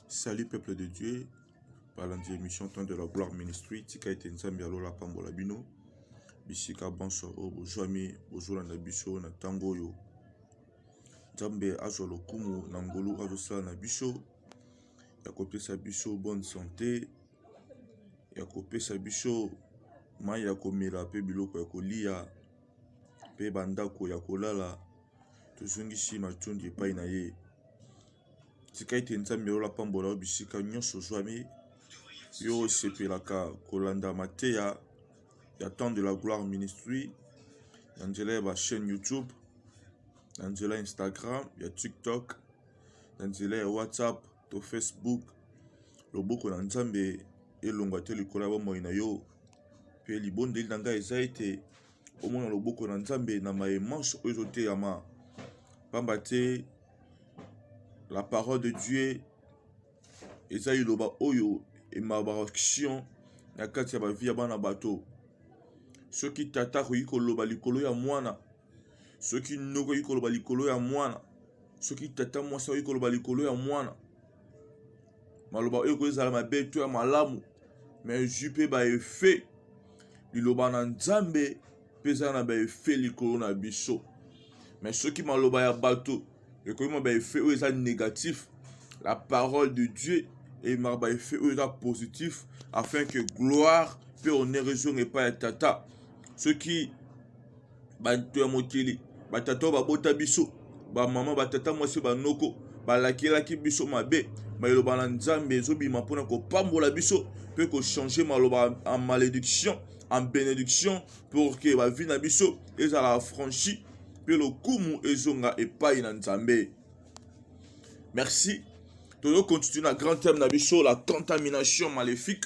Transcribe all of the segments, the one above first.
Salut peuple de Dieu, balandi émission temps de la gloire ministry tika ete nzambe ya lola apambola bino bisika banso oyo bozwami bozolanda biso na ntango oyo nzambe azwa lokumu na ngolu azosala na biso ya kopesa biso bonne sante ya kopesa biso mai ya komela mpe biloko ya kolia pe ba ndaku ya kolala tozongisi matondi epayi na ye tika ete nzambe oyo apambola yo bisika nyonso ozwami yo osepelaka kolanda mateya ya temp de la gloire ministry na nzela ya ba chaine youtube na nzela ya instagram ya tiktock na nzela ya whatsapp to Facebook. Loboko na Nzambe elongwa te likolo ya bomoi na yo, mpe libondeli na ngai eza ete omona loboko na Nzambe na maye manso oyo ezoteyama, mpamba te la parole de Dieu eza liloba oyo emabaka action na kati ya bavi ya bana bato. Soki tata akoki koloba likolo ya mwana soki noko okoki koloba likolo ya mwana soki tata mwasi akoki koloba likolo ya mwana maloba oyo ekoki ezala mabe to ya malamu me ezwi mpe baefe liloba na nzambe mpe eza na baefe likolo na biso me soki maloba ya bato ekoki ma baefe oyo eza négatif la parole de dieu emaka baefe oyo eza positif afin que gloire mpe honneur ezonga epai ya tata soki bato ya mokili, batata oyo babota biso, bamama, batata mwasi, banoko balakelaki biso mabe, maloba na Nzambe ezobima mpo na kopambola biso mpe kochange maloba en malediction en benediction pour que bavi na biso ezala affranchi mpe lokumu ezonga epai na Nzambe. Merci. Tozo continuer na grand thème na biso la contamination maléfique.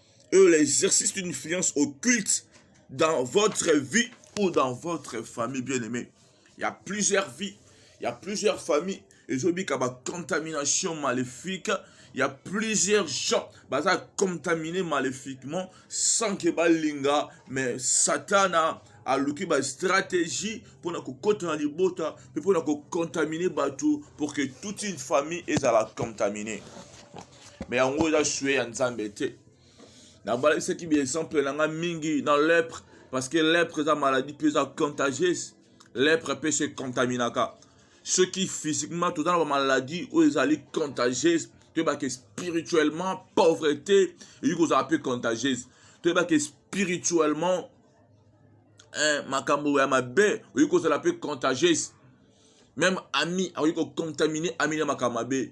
et l'exercice d'une influence occulte dans votre vie ou dans votre famille bien aimé il y a plusieurs vies il y a plusieurs familles ezobika bacontamination maléfique il y a plusieurs gens baza contaminés maléfiquement sans que balinga mais satana aluki bastratégie mpo na kokota na libota mpe mpo na kocontamine bato pour que toute une famille ezala contamine me yango eza sue ya nzambe te nabalakisaki biexemple na ngai mingi na lepre parce que lepre eza maladie mpe eza contagieuse lepre mpe se contaminaka soki physiquement toza na bamaladie oyo ezali contagieuse toyeba ke spirituellement pauvreté eyiki kozala mpe contagieuse toyeba ke spirituellement eh, makambo ya mabe oyoki kozala mpe contagieuse meme ami akoki kocontamine ami na makambo mabe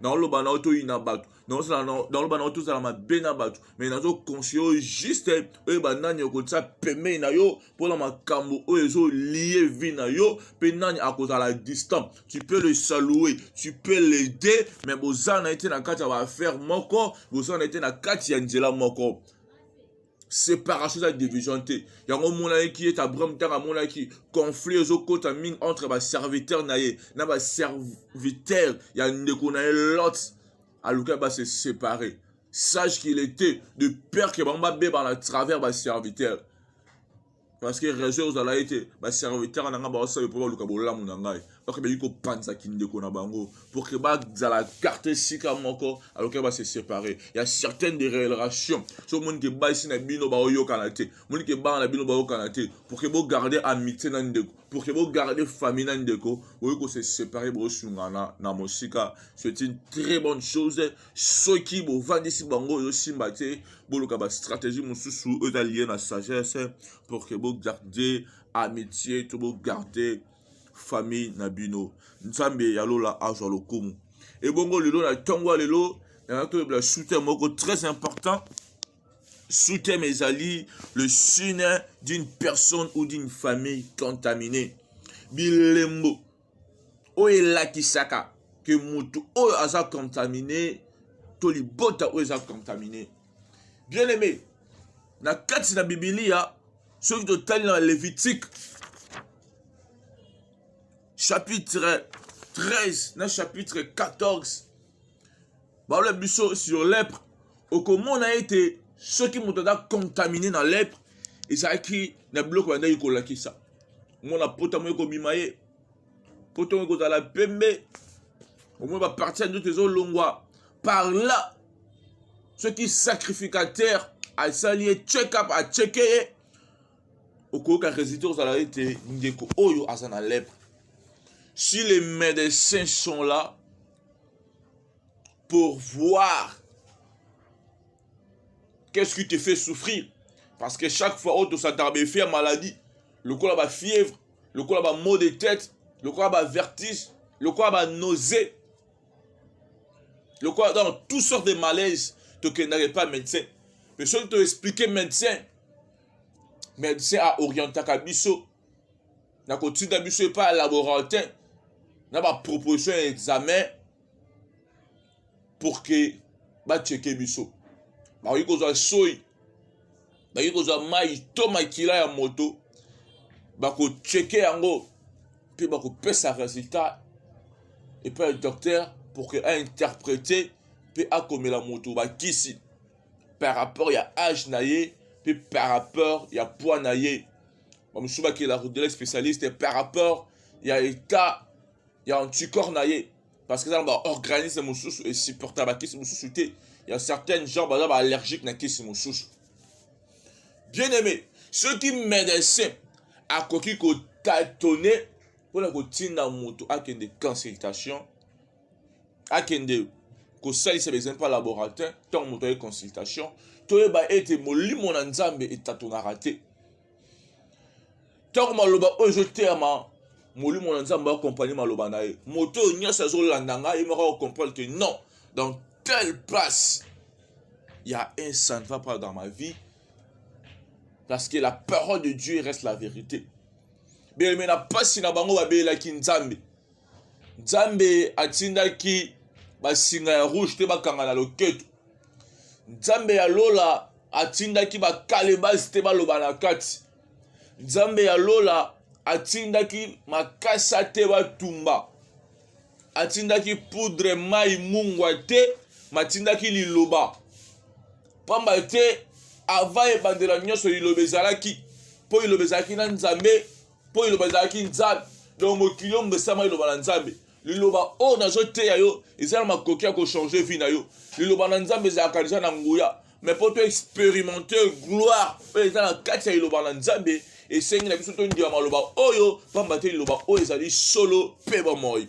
naoloba na yo toyina bato naoloba na yo tozala mabe na bato mai nazokonseye oyo juste oyeba nani okotisa pembeni na yo mpona makambo oyo ezolie vie na yo mpe nani akozala distant tu peux le salouer tu peux l'aider mais boza na ye te na kati ya baaffaire moko boza na ye te na kati ya nzela moko separation eza division te yango omonaki ete abraham ntango amonaki conflit ezokota mingi entre baserviteur na ye na baserviteur ya ndeko na ye lot alukaki base séparer sage qu'il était de peur ke bango babebana travers baserviteur parce que raison ozala ye te basaka etaka na ngai baosala mpo baluka bolamu na ngai baka baki kopanza kindeko na bango pour que bazala karte esika moko alokai base séparer ya certaine de relation so omoni ke basi na bino baoyokana te omoni ke bana na bino baokana te pour que bogarde amitié na ndeko pour que bogarde famille na ndeko boyi kose séparer bosungana na mosika c'est une très bonne chose soki bovandisi bango ozosimba te boluka bastratégie mosusu oyo eza lie na sagesse pour que bogarde amitié to bogarde famille na bino nzambe ya lola azwa lokumu ebongo lelo na ntongo ya lelo yango toyebela soutien moko très important soutien ezali le signe d'une personne ou d'une famille contaminée bilembo oyo elakisaka ke motu oyo aza contamine to libota oyo eza contamine bien aime na kati na bibilia soki totali na levitike chapitre 13 na chapitre 14 balola biso sur lepre okomona ete soki moto aza contamine na lepre ezalaki na biloko bandaki kolakisa omona pota moye kobima ye pota moye kozala pembe omona baparti ya nzoto ezolongwa par là soki sacrificateur asali ye check up acheke ye okoyoka résultat ozala ete ndeko oyo aza na lepre si les médecins sont là pour voir qu'est-ce qui te fait souffrir parce que chaque fois oyo tosatarbefe ya maladie lokola bafièvre lokola bamot de tête lokola bavertige lokola banausée lokola dans toutes sortes de malaise tokendaka epa médecin mpe soki toexplike médecin médecin aorientaka biso nakotinda biso epai ya laboratin na baproposition ya examen pour que bacheke biso bakoki kozwa soi bakoki kozwa mai to makila ya moto bakocheke yango mpe bakopesa resultat epai ya docteur pour que ainterprete mpe akomela moto bakisi par rapport ya age na ye mpe par rapport ya poids na ye bamosusu bakela rodela spécialiste par rapport ya état ya anticorps na ye parce que eza na baorganisme mosusu esupporta bakisi mosusu te ya certaines gens baza baallergique na kisi mosusu bien aimé soki médecin akoki kotatone mpona kotinda moto akende consultation akende kosalisa ba examen mpe laboratoire ntango moto aye consultation toyeba ete molimo na nzambe etatonaka te ntango maloba oyo ezoteyama molimo na nzambe akompagne maloba na ye moto oyo nyonso azolanda ngai ye moko akokomprendre te non dans telle place il y a un ça ne va pas dans ma vie parce que la parole de dieu reste la vérité beleme na mpasi na bango babelelaki nzambe Nzambe atindaki basinga ya rouge te bakanga na loketo. Nzambe ya lola atindaki bakalebasi te baloba na kati. Nzambe ya lola atindaki makasa te batumba. Atindaki poudre mai mungwa te, matindaki liloba. Pamba te ava ebandela nyonso liloba ezalaki, mpo liloba ezalaki na Nzambe, mpo liloba ezalaki nzambe donc mokili oyo mbesama liloba na nzambe liloba oyo nazoteya yo eza na makoki ya kochange vie na yo liloba na nzambe ezalaka deja na nguya me mpo to experimente gloire oyo eza na kati ya liloba na nzambe esengi na biso tondima maloba oyo mpamba te liloba oyo ezali solo mpe bomoi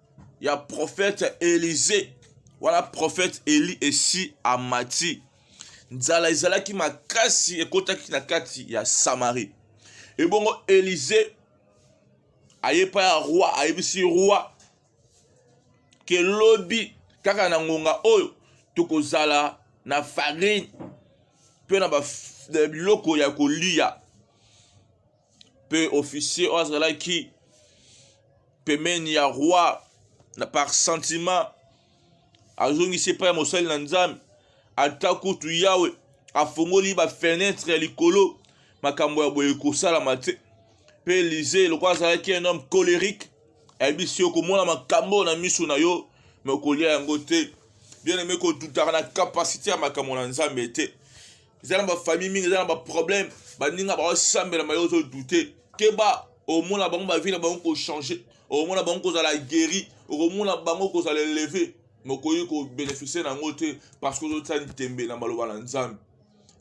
ya profete Elize wana profete Eli esi amati. Nzala ezalaki makasi, ekotaki na kati ya Samari. Ebongo Elize aye pa ya roi, ayebisi roi ke lobi kaka na ngonga oyo tokozala na farine mpe na biloko ya kolia mpe officier oyo azalaki pembeni ya roi na par sentiment azongisi epai ya mosali na nzambe ata kutu yawe afongoli bafenetre ya likolo makambo ya boye kosalama te mpe elize lokola azalaki un homme colérique ayebisi yo komona makambo na miso na yo me okolia yango te bien aime kotutaka na kapasite ya makambo na nzambe te eza na bafamille mingi eza na baproblème baninga baosambela maye ozodute keba omona bango bavi na bango kochange okomona bango kozala guéri okomona bango kozala eleve mokoki kobeneficie na yango te parce que ozotya ntembe na maloba na nzambe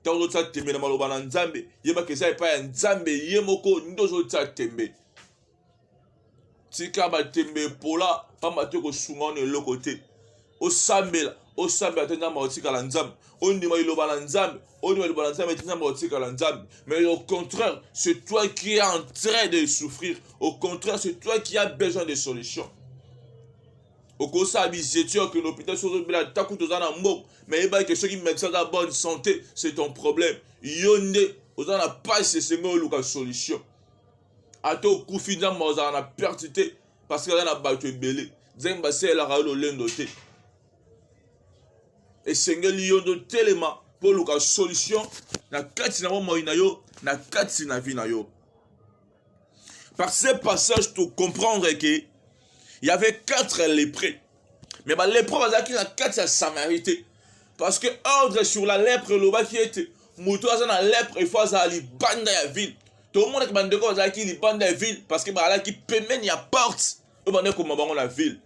ntango ozotya ntembe na maloba na nzambe yebaka eza epai ya nzambe ye moko nde ozotya ntembe tika batembe epola mpamba te kosunga wana eloko te osambela osambela te nzambe akotikala nzambe ondima liloba na nzambe ondima liloba na nzambe te nzambe akotikala nzambe mais au contraire c'est toi qui es en train de souffrir au contraire c'est toi qui as besoin de solution okosala bizetio okende hôpital soki ozobela ata kutu oza na mboka mais yebaki ke soki medecin aza bonne santé c'est ton problème yo nde oza na pasi esengo oluka solution ata okufi nzambe ozala na perte te parce que aza na bato ebele nzambe asalelaka yo lolendo te esengeli yo nde otelema mpo oluka solution na kati na bomoi na yo na kati na vie na yo par ce passage to comprendre que il y avait quatre lépreux me balepre bazalaki na kati ya samarie te parce que ordre sur la lèpre elobaki ete moto aza na lèpre efo azala libanda ya ville tomonaki bandeko bazalaki libanda ya ville parce que bazalaki pembeni ya porte oyo bandaki koma bango na ville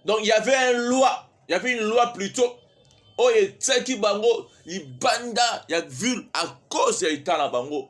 donc il y avait un loi il y avait une loi plutôt oyo etiaki bango libanda ya ville à cause ya etat na bango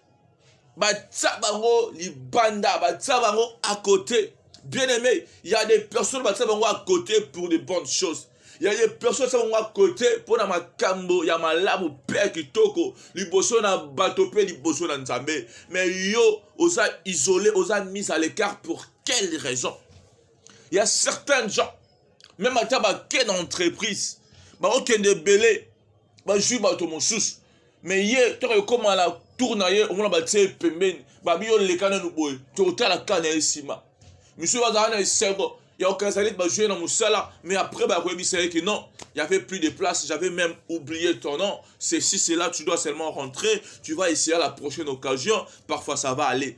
batya bango libanda batya bango à côté bien aimé il y a des personnes batya bango à côté pour de bonnes choses il y a des personnes batya bango à côté mpo na makambo ya malamu mpe ya kitoko liboso na bato mpe liboso na nzambe mais yo oza isolé oza mise à l'écart pour quelle raison il y a certains gens même ata bakei na entreprise bakokende ebele bazwi bato mosusu me ye toka ekoma na tour na ye omona batie ye pembeni babi yo leka nanu boye tokotala ka na ye nsima misusu bazala na esengo ya kokanisa neti bajoue na mosala mais après bakoyebisa ye ke non y avait plus de place j'avais même oublié ton nom ceci cela tu dois seulement rentrer tu vas essayer la prochaine occasion parfois ça va aller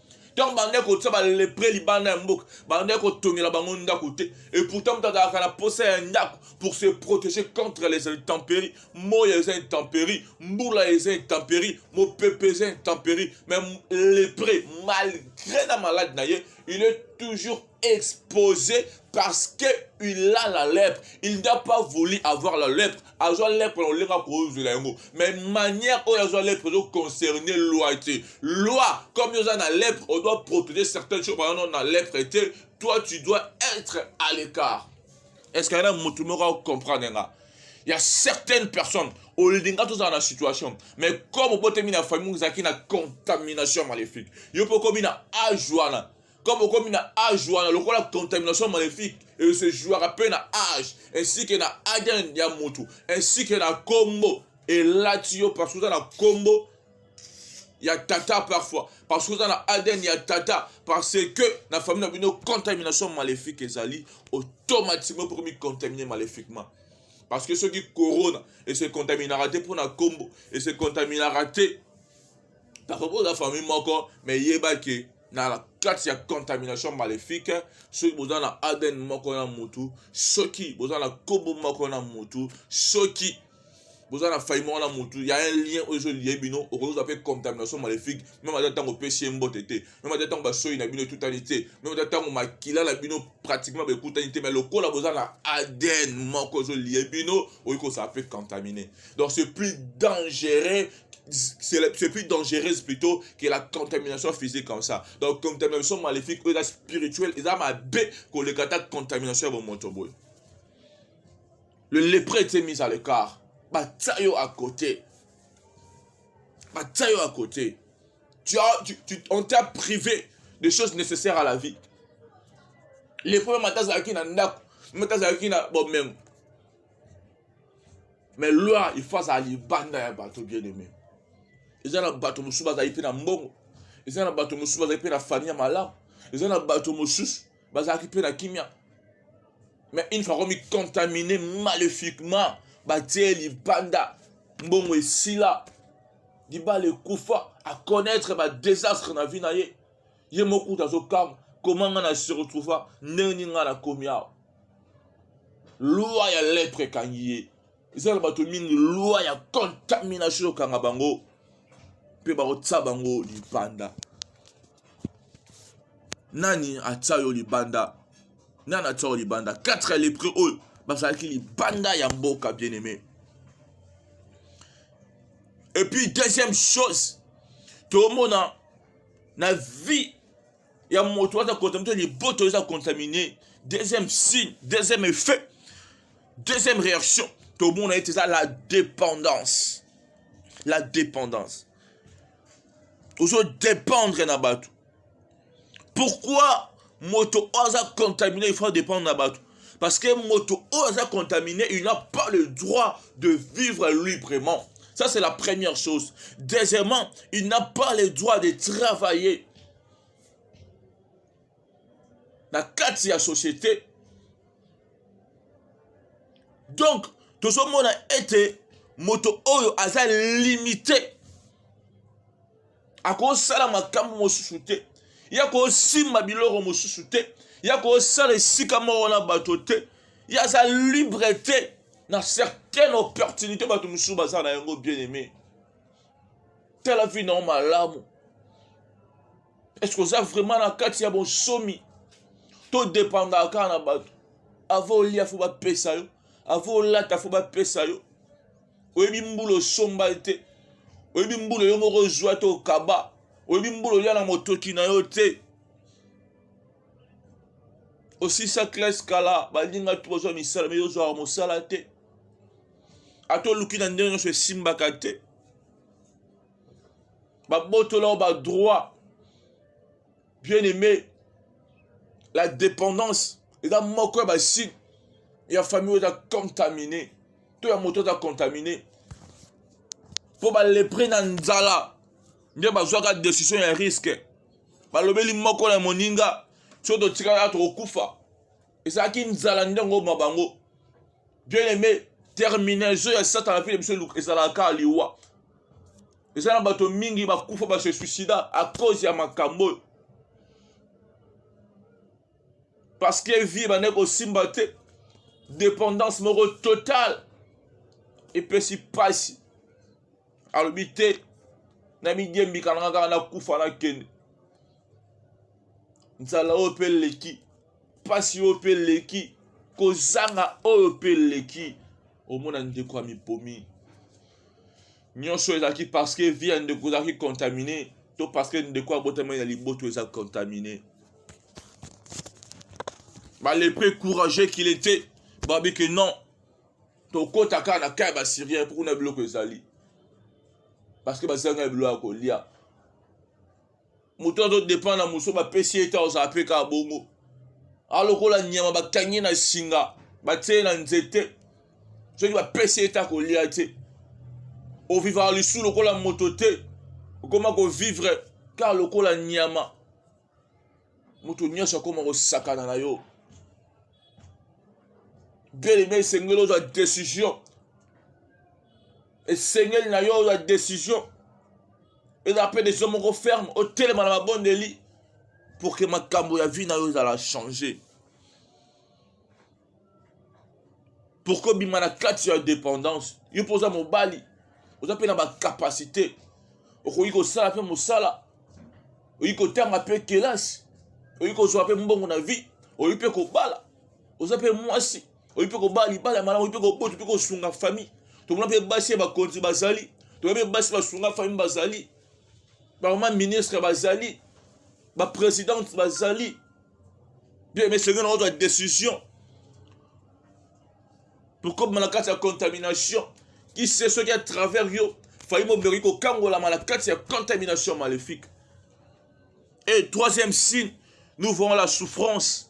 ntango bandaki kotya balepre libanda ya mboka bandaki kotongela bango ndako te et pourtant moto azalaka na mposa ya ndako pour se protéger contre les intempéries moya eza intempérie mbula eza intempérie mopepe eza intempérie mais lepre malgré na malade na ye il est toujours exposé parce que il a la lèpre il n'a pas voulu avoir la lèpre azwa lèpre na olenga kozwela yango mais manière oyo azwa lèpre ezo concerne loi te loi comme oza na lèpre on doit protéger certaines choses pendant na lèpre te toi tu dois être à l'écart est-ce qu'il y en a motu moko acomprendre nga il y a certaines personnes olinga tozala na situation mais comme obotemi na famille ozalaki na contamination maléfique yo mpe okomi na age wana comme okomi na age wana lokola contamination maléfique et se jouaka mpe na age ainsi que na ADN ya mutu ainsi que na kombo elati yo parce que oza na kombo ya tata parfois parce que oza na ADN ya tata parce que na famille na bino contamination maléfique ezali automatiquement mpo komi contaminer maléfiquement parce que soki corona et se contaminera te mpo na kombo et se contaminera te parfois mpo oza famille moko mais yeba ke na kati ya contamination maléfique soki boza na adn moko na mutu soki boza na kobo moko na mutu soki boza na fai moko na mutu ya un lien oyo ezolie bino okozwa mpe contamination maléfique meme ata ntango opesi ye mbote te meme ata ntango basoyi na bino etutani te meme ata ntango makila na bino pratiquement baekutani te mai lokola boza na adn moko ezolie bino okoki kozala mpe contamine donc c'est plus dangereux c'est plus dangereuse plutôt que la contamination physique comme ça donc contamination maléfique oyo eza spirituel eza mabe koleka ata contamination ya bomoto boye le lepre ete mise à l'écart batia yo à côté batia yo à côté tu as, tu, tu, on t'a privé des choses nécessaires à la vie lepre mata azalaki na ndako mata azalaki na bomengo mais loi il faut azala libanda ya bato bien aimé eza na bato mosusu bazali mpe na mbongo eza na bato mosusu bazali mpe na famille ya malamu eza na bato mosusu bazalaki mpe na kimia mais une fois komicontamine maléfiquement batie libanda mbongo esila libala ekufa aconnaître badésastre na vie na ye ye moko kutu azokamwa koma ngai na se retrouva ndenge nini ngai nakomi awa loi ya lettre ekangi ye eza na bato mingi loi ya contamination ekanga bango mpe bakotya bango libanda nani atya yo libanda nani atya yo libanda 4 ya lepre oyo bazalaki libanda ya mboka bien aimé epuis deuxième chose tomona na vie ya moto aza contamine liboto eza contamine deuxième signe deuxième effet deuxième réaction tomona ete eza la dépendance la dépendance ozo dépendre na bato pourquoi moto oyo aza contamine il faut dépendre na bato parce que moto oyo aza contamine il n'a pas le droit de vivre librement ça c'est la première chose deuxièmement il n'a pas le droit de travailler na kati ya société donc tozomona ete moto oyo aza limite akosala makambo mosusu te ye akosimba biloko mosusu te ye akosala esika moko na bato te ye aza libre te na certaine opportunité bato mosusu baza na yango bien aimé tala vi nao malamu eske oza vraiment na kati ya bonsomi to dependaka kaka na bato avo olia fo bapesa yo avo olata fo bapesa yo oyebi mbula osomba te oyebi mbula yo moko ozwa te okaba oyebi mbula olya na motoki na yo te osisa classe kala baninga tu bazwa misala mei ozwaka mosala te ata oluki na ndenge nyonso esimbaka te babotola yo badroit bien aimé la dépendance eza moko ya basigne ya famille oyo eza contamine to ya moto aza contamine mpo balepre na nzala nde bazwaka decision ya riske balobeli moko na moninga soki totikala tokokufa ezalaki nzala nde yango ma bango bien aimé terminaison ya satana mpe na biso ezalaka liwa eza na bato mingi bakufa ba se suicida a cause ya makambo oyo parce que vie ebandaki kosimba te dépendance moko totale epesi mpasi alobi te na midiembika nanga kaka nakufa nakende nzala oyo mpe eleki mpasi oyo mpe eleki kozanga oyo mpe eleki omona ndeko ya mipomi Nioso ezalaki parce que vie ya ndeko ezalaki contamine to parce que ndeko abotamaki na liboto eza contamine. Ba lepre courageux qu'il était babi que non tokota kaka na kaya basyrien mpo kuna biloko ezali parce que bazanga biloko ya kolia moto azo depend na moso bapesi ye te ozala mpe kaka bongo alokola nyama bakangi na singa batie na nzete soki bapesi ye te akolia te ovivaka lisusu lokola moto te okoma kovivre kaka lokola nyama moto nyonso akoma kosakana na yo bel eme esengeli ozwa decision esengeli na yo ya decision ezala mpe decision moko ferme otelema na mabondeli pour que makambo ya vie na yo ezala change pour que obima na kati ya dépendance yo mpe oza mobali oza mpe na bacapacité okoki kosala mpe mosala okoki kotanga mpe kelasi okoki kozwa mpe mbongo na vie okoki mpe kobala oza mpe mwasi oyi mpe kobala libala ya malamu oyi mpe kobota mpe kosunga famille tomona mpe basi ya bakonzi bazali tomona mpe basi basunga famille bazali bamama ministre bazali bapresidente bazali bien mais soki nakozwa décision tokobima na kati ya contamination kise soki à travers yo fayi mobeko kokangolama na kati ya contamination maléfique et troisième signe nous voyons la souffrance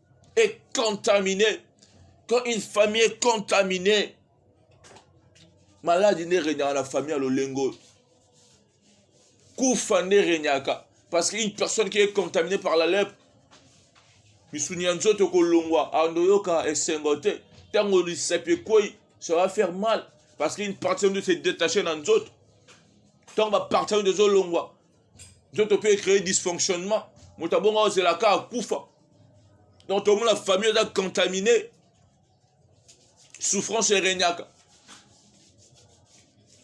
est contaminée, quand une famille est contaminée, maladi nde regnaka na famille ya lolengo oyo kufa nde regnaka parce que une personne qui est contaminée par la lèpre misuni ya nzoto kolongwa andoyoka esengo te ntango lisapi ekwei ça va faire mal parce qu'une partie ya nzoto se détache na nzoto ntango bapartie ya nzoto ezolongwa nzoto mpe ecree dysfonctionnement moto abongo ozela ka akufa donc tomona famille eza contamine souffrance eregnaka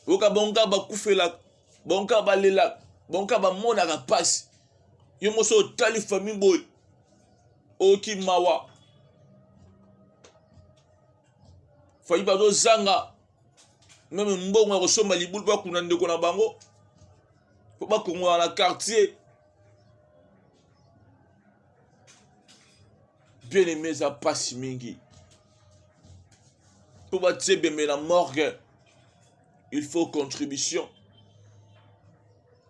oyoka bango kaka bakufelaka bango kaka balelaka bango kaka bamonaka mpasi yo moso otali famille boye oyoki mawa fayi bazozanga meme mbongo ya kosomba libulu mpo bakunda ndeko na bango mpo bakongola na quartier bien aime eza mpasi mingi mpo batie bembe na morgue il faut contribution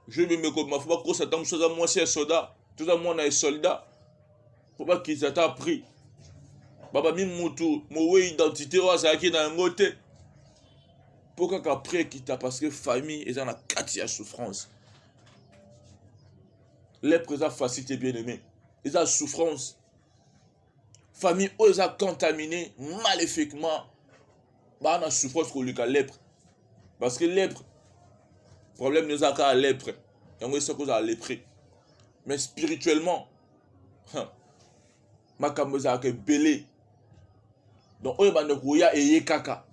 je bembe kobima fo bakosa ntango mosusu aza mwasi ya soda toza mwana ya soldat mpo bakitisa ata prix babami mutu mowe identité oyo azalaki na yango te mpo kaka prix ekita parce que famille eza na kati ya souffrance lepre eza facile te bien aimé eza souffrance famille oyo eza contamine maléfiquement baa na souffrance koleka lepre parce que lepre problème eza kaka lepre yango esaki ozala lepre mais spirituellement makambo ezalaka ebele donc oyo banda koya eye kaka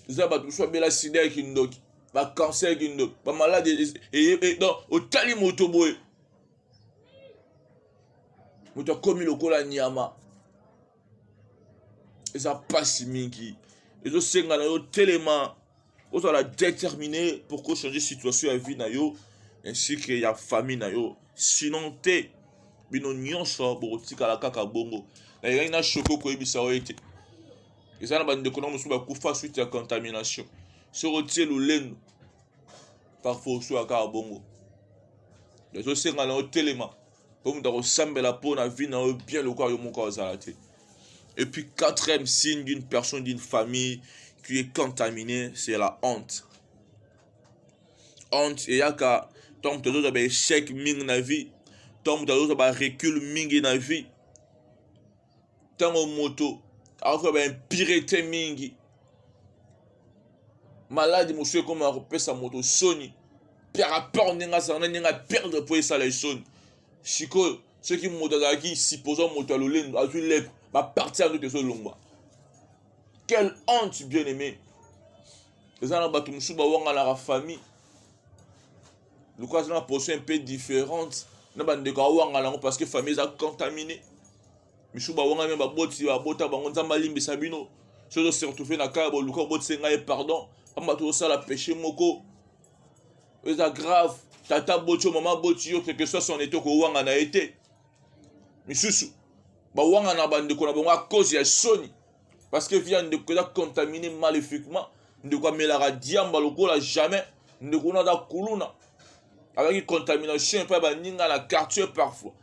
eza bato mosusu babela sida ya kindoki bacancer ya kindoki bamaladi eye e, donc otali moto boye moto akomi lokola nyama eza pasi mingi ezosenga na yo telema ozala déterminé pour ko changer situation ya vie na yo ainsi que ya famille na yo sinon te bino nyonso bokotikala kaka bongo nayekaki na shoko koyebisa yo ete eza na bandeko na mosusu bakufa suite ya contamination soki otie lolendo parfois osuaka kaka bongo ezosenga na yo telema mpo moto akosambela mpo na vie na yo bien lokola yo moko azala te et puis quatrième signe d'une personne d'une famille qui est contaminée c'est la honte honte eyaka ntango moto azozwa baechec mingi na vie ntango moto azozwa barecule mingi na vie ntango moto akokola ba impurete mingi maladi mosusu ekomaka kopesa moto soni par rapport ndenge azala na ndenge aperdre mpo esala ye soni sikoyo soki moto azalaki supposé moto ya lolendo azwi lepre baparti ya nzoto ezolongwa quelle honte bien aimé eza na bato mosusu bawanganaka famille lokola aza na poso un peu différente na bandeko awangana yango parce que famille eza contamine misu bawangami ya baboti babota bango nzambe alimbisa bino soki ozosertouve na kaya boluka obotisa ngai ye pardon pamba tozosala péché moko eza grave tata boti yo mama boti yo quelque soit son eto kowangana ye te misusu bawangana bandeko na bango a cause ya soni parce que vie ya ndeko eza contamine maléfiquement ndeko amelaka diamba lokola jamais ndeko wana aza kuluna azalaki contamination epai baninga na quartier parfois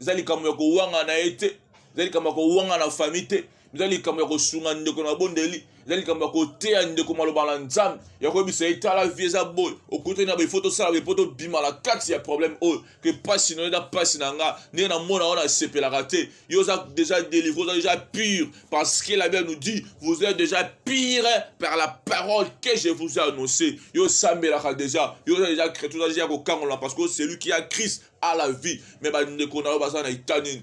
eza likambo ya kowanga na ye te eza likambo ya kowanga na famille te eza likambo ya kosunga ndeko na bondeli eza likambo ya koteya ndeko maloba na nzambe ya koyebisa ye tala vie eza boye okutani na befo tosala boye mpo tobima na kati ya problème oyo que pasi na yo pasi na nga ndenge na mona wana asepelaka te yo oza déjà délivré oza déjà pur parce que la bible nous dit vous êtes déjà pire par la parole que je vous ai annoncé yo osambelaka déjà yo oza déjà chrétien oza déjà kokangola parce que celui qui a christ a la vie mais bandeko na yo baza na etani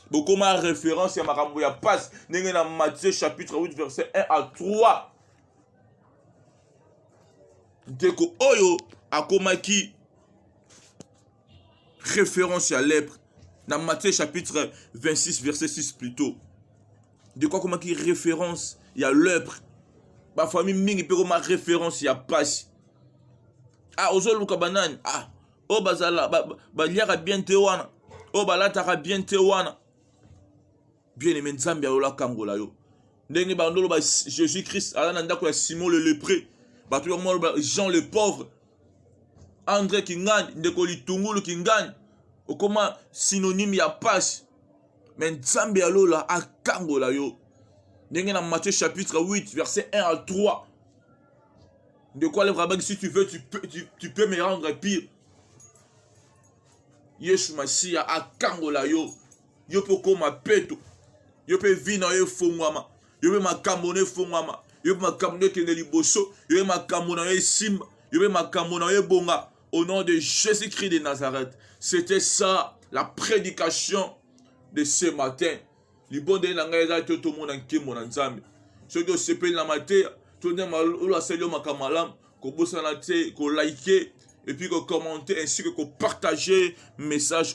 bokoma référence ya makambo ya pasi ndenge na matthieu chapitre 8 verset 1 à 3 ndeko oyo akomaki référence ya lèpre na matthieu chapitre 26 verset 6 plutôt ndeko akomaki référence ya lèpre bafamille mingi mpe koma référence ya pasi ah ozoluka banani ah oyo bazala baliaka bien te wana oyo balataka bien te wana bien aime nzambe ya lola akangola yo ndenge bando loba jésus christ aza na ndako ya simon le lepré bato yango maloba jean le pauvre andre kingani ndeko litungulu kingani okoma synonyme ya pasi me nzambe ya lola akangola yo ndenge na matthieu chapitre 8 verset 1 à 3 De quoi les rabbins, si tu veux, tu peux, tu, tu peux me rendre pire. Yesu Masiya akangola yo. Yo pe okoma peto. Yo pe vie na yo efongwama. Yo pe makambo na efongwama. Yo pe makambo na ekende liboso. Yo pe makambo na yo esimba. Yo pe makambo na yo ebonga. Au nom de Jésus-Christ de Nazareth. C'était ça la prédication de ce matin. libondeli na ngai eza te tomona nkembo na nzambe soki osepeli na mateya to nde oyo asali yo makambo malamu kobosana te kolike epuis kokommente ainsi que kopartage message